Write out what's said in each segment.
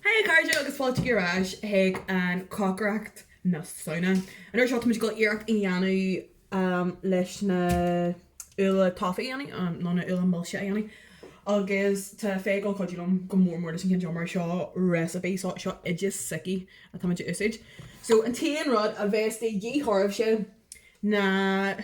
Hey a chairde agus fáilte ar ais chuig an chocaireacht na Samhna. An uair seo táimid ag gabháil iarracht a dhéanamh leis na úlla taifí a dhéanamh nó na úlla milse a dhéanamh agus tá Faye ag gabháil cuidiú liom go mór mór leis an cionn seo mar seo recipe, so seo oideas s'aici atáimid a úsáid. So an t-aon rud a bheas de dhíth oraibhse ná.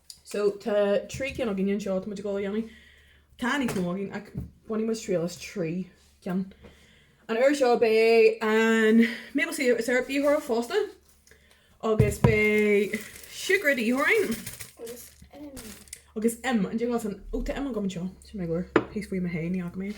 So, tá trí cinn againn anseo, tá muid ag dul a dhéanamh, tá níos mó againn ach bainfidh muid triail as trí cinn. An uair seo beidh an maple syrup de dhíth oraibh fosta agus beidh siúcra de dhíth oraibh. Agus im. Agus im, an diabhal san, ó tá im agam anseo, sin mé go bhfuair, thíos faoi mo thae, ní fhaca mé é.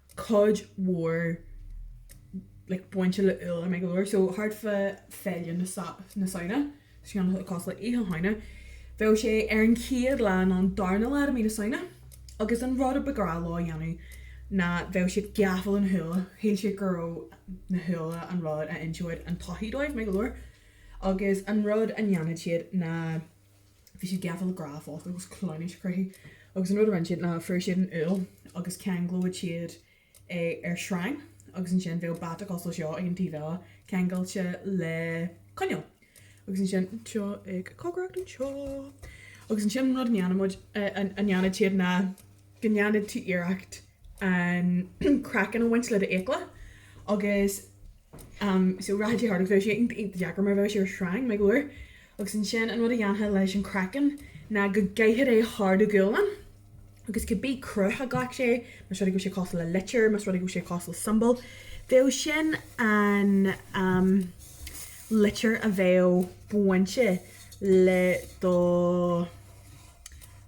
cuid mhór like bainte le úlla amanna go leor so thart fá Féile na na Samhna so cosúil le Oíche Shamhna bheadh sé ar an chéad lá nó an darna lá de mí na Samhna agus an rud a ba ghrá leo a dhéanamh ná bheadh siad gafa le na húlla, shíl siad go raibh na húlla an rud a inseodh an todhchaí dóibh amanna go leor agus an rud a ndéanfadh siad ná. bhí siad gafa le grá fosta agus cleamhnais a chruthú agus an rud a rinne siad ná fuair siad an úll agus cheanglódh siad é ar shreang agus ansin bheadh bata cosúil le seo ag an taobh eile ceangailte le coinneal agus ansin seo ag cócaireacht anseo agus ansin an rud a ndéanadh siad ná go ndéanadh siad iarracht an craiceann a bhaint le do fhiacla agus. so rachadh sé thart agus bheadh sé iontach deacair mar bheadh sé ar shreang, amanna go leor, agus ansin an rud a dhéanfá leis an craiceann ná go gcaithfeá é thar do ghualainn agus cibé cruth a ghlac sé, más rud é go raibh sé cosúil le litir, más rud é go raibh sé cosúil le symbol, bheadh sin an litir a bheadh bainte le do.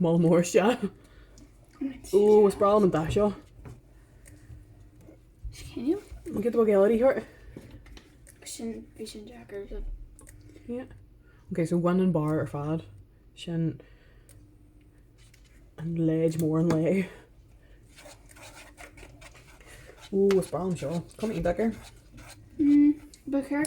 Maith, mór is ea. Ooh, is breá liom an dath seo. Is cinnte. An gcead a bheadh géar thart? Sin, bhí sin deacair do. Yeah. Ok, so bhain an barr ar fad. Sin an leid mór an lae. Ooh, is breá liom seo. Coiméad deacair. Mm, ba chéir.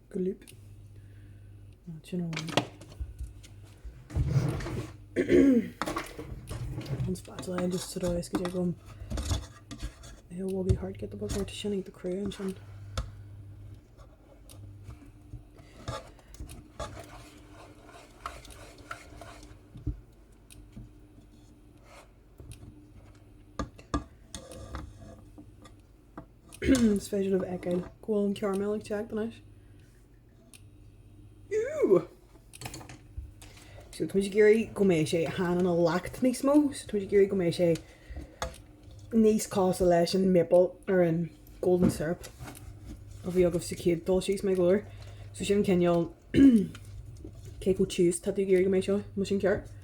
Glip. Now, sin amháin. An spatula just sa dóigh is go dtig liom. It will be hard to get the book out, sin iontach crua ansin. Is féidir libh a fheiceáil go bhfuil an caramel ag teacht anois. Ooh! So, táimid ag iarraidh go mbeidh sé chan ina leacht níos mó, so táimid ag iarraidh go mbeidh sé níos cosúla leis an maple nó an golden syrup a bhí agaibh sa chéad dul síos, maith go leor. So sin an cineál cé chomh tiubh is tá tú ag iarraidh go mbeidh seo, má tá sin ceart.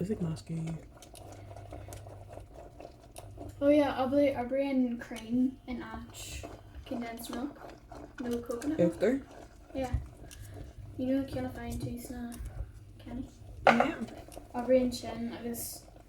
Is ag meascadh í. Oh yeah, oibríonn cream in áit condensed milk nó coconut milk. Uachtar? Yeah. You know ceann a fhaigheann tú sna cannaí? Yeah. Oibríonn sin agus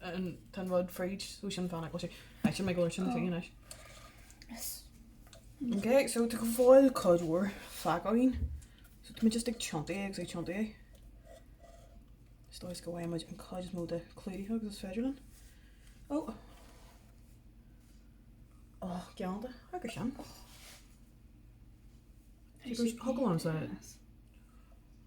an t-aon rud fridge so sin fan go bhfeice sibh, maith go leor, sin ina fhíon anois. Yes. Ok so tá fós cuid mhór fágtha againn so tá muid just ag tiontú é agus ag tiontú é. Sa dóigh is go bhfaighidh muid an chuid is mó de clúdaithe agus is féidir linn. Ó! Ó geal de agus sin. Thug a lán as.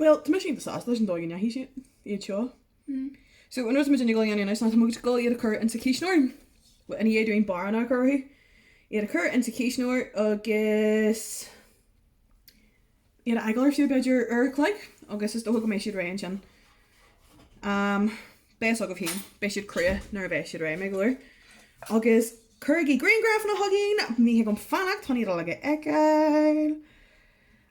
Bhuel, tá mise iontach sásta leis an dóigh a ndeachaigh siad seo. So, an rud atá muid ag dhul a dhéanamh anois ná, tá muid ag dhul iad a chur insa chuisneoir, bhuel, ina dhiaidh dúinn barranna a chur orthu, iad a chur insa chuisneoir agus iad a fhágáil ar feadh, b'fhéidir, uair a chloig agus is dócha go mbeidh siad réidh ansin. Am, beidh fhios agaibh féin, beidh siad crua nuair a bheas siad réidh, maith go leor. Agus cuirigí griangrafanna chugainn, ní thig liom fanacht chun iad uilig a fheiceáil!